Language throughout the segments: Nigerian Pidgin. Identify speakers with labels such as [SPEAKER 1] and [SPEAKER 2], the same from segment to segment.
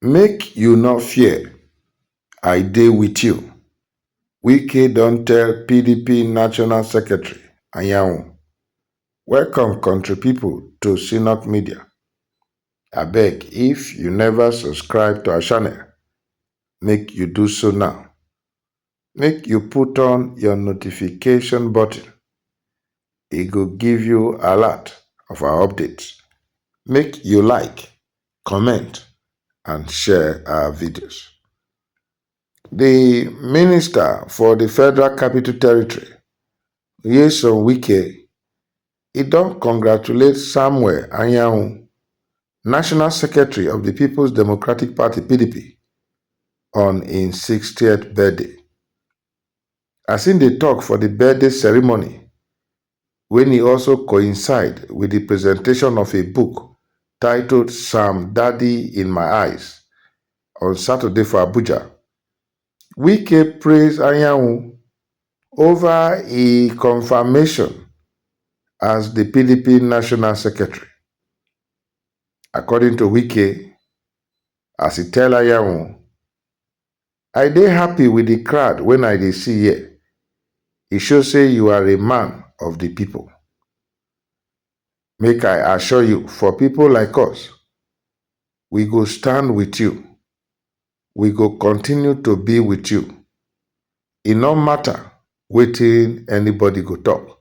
[SPEAKER 1] Make you no fear, I dey with you, Wike don tell pdp National Secretary Anyanwu. Welcome country people to Synock Media. Abeg if you never subscribe to our channel, make you do so now. make you put on your notification button e go give you alert of our updates make you like comment and share our videos the minister for the federal capital territory Nyesom Wike E don congratulate Samuel Anyanwu, National Secretary of di Peoples Democratic Party, pdp, on im sixtieth birthday. As im dey tok for di birthday ceremony, wen e also coincide wit di presentation of a book titled Sam Dady in My Eyes on Saturday for Abuja, Wike praise Anyanwu ova e confirmation as di pdp national secretary. According to Wike, as e tell Anyanwu, I dey happy with di crowd wen I dey see here, e show say you are a man of di pipo. Make I assure you for pipo like us, we go stand with you, We go continue to be with you, e no matter wetin anybody go talk.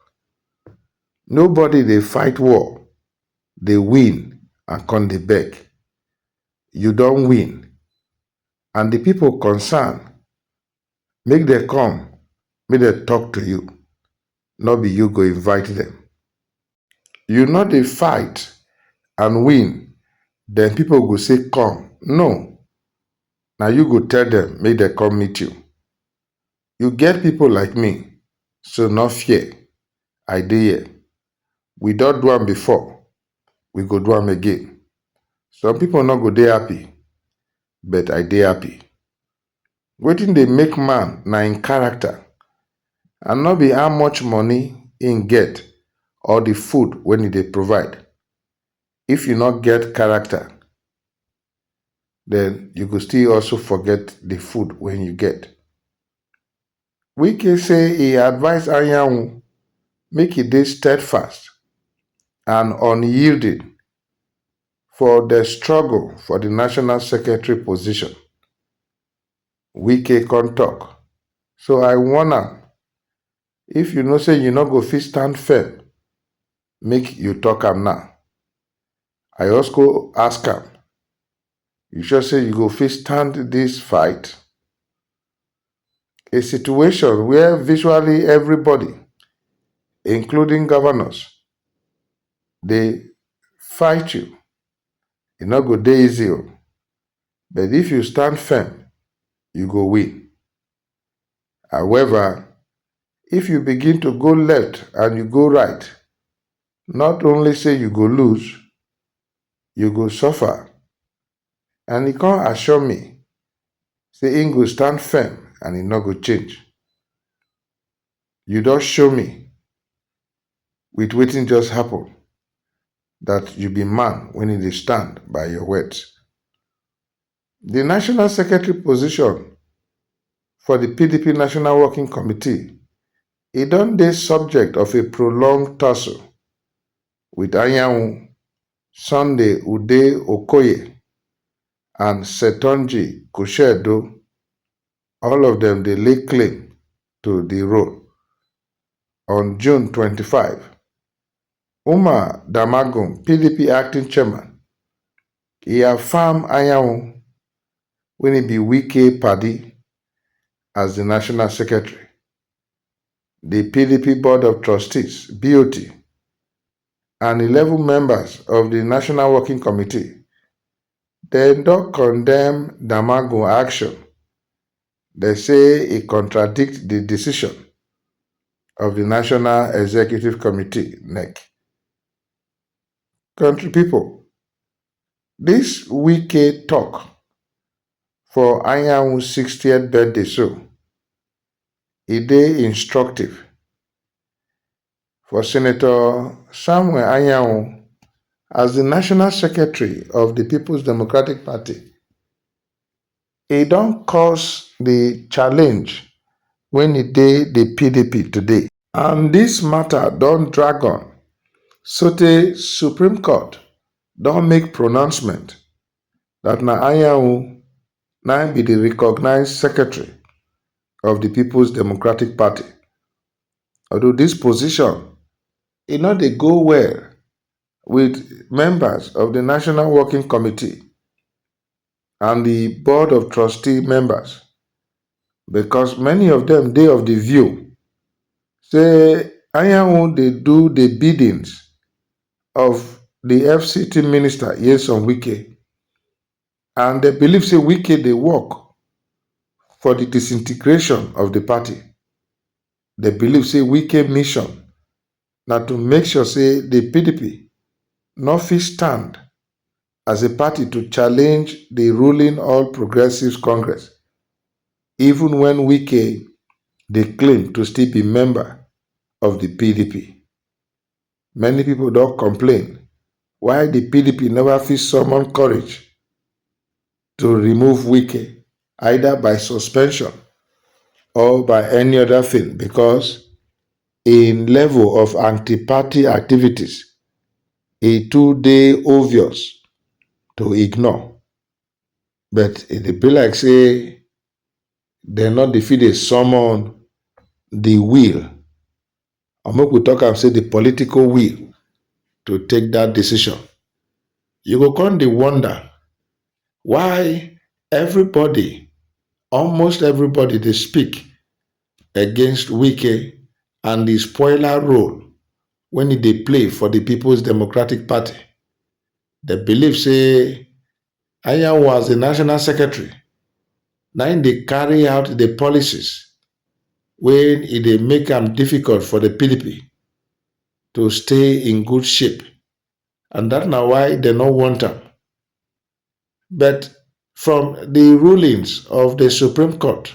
[SPEAKER 1] Nobody dey fight war, dey win and come dey beg. You don win and the people concerned Make dem come, make dem talk to you, no be you go invite dem. You no dey fight and win, then people go say come, no, na you go tell dem make dem come meet you. You get people like me, so no fear, I dey here. We don do am before, we go do am again. Some people no go dey happy, but I dey happy. Wetin dey make man na im character and no be how much money im get or the food wey im dey provide. If you no get character, then you go still also forget the food wey you get. Wike say e advise Anyanwu make e dey steadfast and unyielding for the struggle for the national secretary position. Wike come talk, So I warn am, if you know say you no go fit stand firm, make you talk am now. I also ask am, You sure say you go fit stand this fight? A situation where visually everybody, including governors, dey fight you. E no go dey easy o, but if you stand firm, you go win. However, if you begin to go left and you go right, Not only say you go lose, you go suffer. And e come assure me say im go stand firm and e no go change. You don show me with wetin just happen that you be man wey no dey stand by your words. Di national secretary position for di pdp national working committee e don dey subject of a prolonged tussle wit Anyanwu, Sunday Ude Okoye and Setonji Kushedu, all of dem dey lay claim to di role. On June twenty five, Umar Damagum, pdp acting chairman, e affirm Anyanwu wey e be Wike padi as di national secretary. Di pdp board of trustees, BOT, and eleven members of di national working committee dem don condemn Damagum action Dem say e contradict di decision of di National Executive Committee, nec. Country people, dis Wike talk for Anyanwu sixtieth birthday so, e dey instructive. For Senator Samuel Anyanwu, as di national secretary of di Peoples Democratic Party, e don cause di challenge wen e dey di pdp today. And dis mata don drag on sotey Supreme Court don make pronouncement dat na Anyanwu na im be di recognised secretary of di Peoples Democratic Party. although dis position e no dey go well wit members of di National Working Committee and di Board of Trustee members becos many of dem dey of di view say Anyanwu dey do di biddings of di FCT Minister Nyesom Wike and dem believe say Wike dey work for di disintegration of di party. dey believe say Wike mission na to make sure say di pdp no fit stand as a party to challenge di ruling All Progressives Congress even wen Wike dey claim to still be member of di pdp. Many people don complain why the PDP never fit summon courage to remove Wike either by suspension or by any other thing because in level of anti-party activities, it too dey obvious to ignore. But it dey be like say dem no dey fit dey summon the will Or make we talk am say di political will to take dat decision. You go come dey wonder why everybody, almost everybody dey speak against Wike and di spoiler role wen e dey play for di Peoples Democratic Party. Dem believe say Anyanwu as di national secretary na im dey carry out di policies wey e dey make am difficult for di pdp to stay in good shape and dat na why dem no want am but from di rulings of di supreme court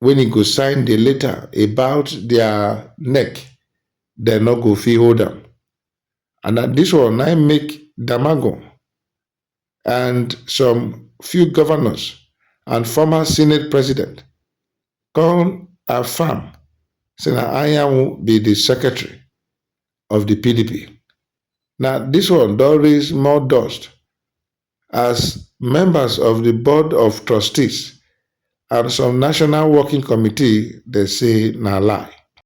[SPEAKER 1] wen e go sign di letter about dia neck dem no go fit hold am and na dis one na im make Damagum and some few governors and former senate president come affirm say na Anyanwu be di secretary of di pdp na dis one don raise more dust as members of di board of trustees and some national working committee dey say na lie